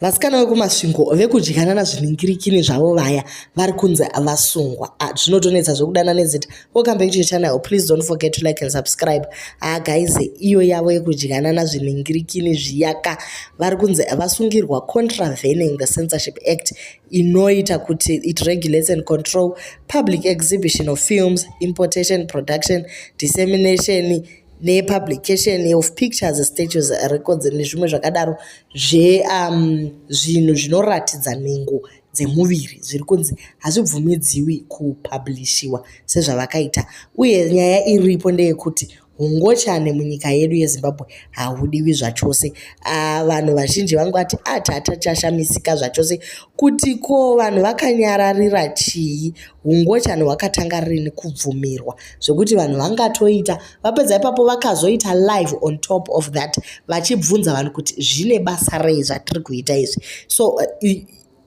Vasikana vekumasvingo vekudyanana zvinhingirikini zvavo vaya vari kunzi vasungwa. Ah, zvinotonetsa zvekudana nezita. Welcome back to your channel. Please don't forget to like and subscribe. Ah, guys, iyo yavo yekudyanana zvinhingirikini zviyaka vari kunzi vasungirwa contravening the censorship act inoita kuti it regulates and control public exhibition of films, importation, production, dissemination, nepublication of pictures statues records nezvimwe zvakadaro zvezvinhu um, zvinoratidza nhengo dzemuviri zviri kunzi hazvibvumidziwi kupublishiwa sezvavakaita uye nyaya iripo ndeyekuti hungochane munyika yedu yezimbabwe haudiwi zvachose ah, vanhu vazhinji vangu vati atata ah, chashamisika zvachose kuti ko vanhu vakanyararira chii hungochani hwakatanga rini kubvumirwa zvekuti vanhu vangatoita vapedza ipapo vakazoita live on top of that vachibvunza vanhu kuti zvine basa rei zvatiri kuita izvi so uh,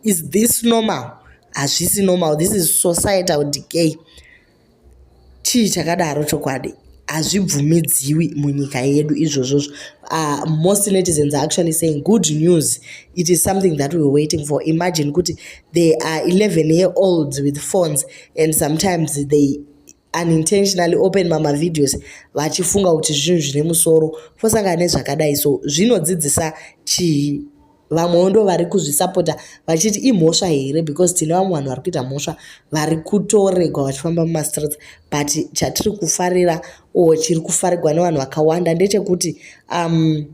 is this normal hazvisi normal this is societal decay chii chakadaro chokwadi hazvibvumidziwi munyika yedu izvozvozvo uh, most netizens are actually saying good news it is something that we're waiting for imagine kuti they are 11 year olds with phones and sometimes they unintentionally open mamavideos vachifunga kuti zvinhu zvine musoro fosangana nezvakadai so zvinodzidzisa chii vamwewo ndo vari kuzvisapota vachiti imhosva here because tine vamwe vanhu vari kuita mhosva vari kutoregwa vachifamba mumastreets but chatiri kufarira or chiri kufarigwa nevanhu vakawanda ndechekuti um,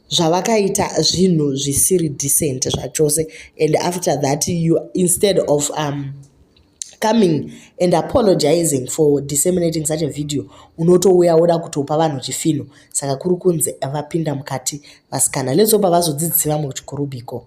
zvavakaita zvinhu zvisiri decent zvachose and after that you instead of um, coming and apologizing for disseminating such a video unotouya woda kutopa vanhu chifino saka kuri kunzi vapinda mukati vasikana let's hope vazodzidzisi vamwe kuchikoro biko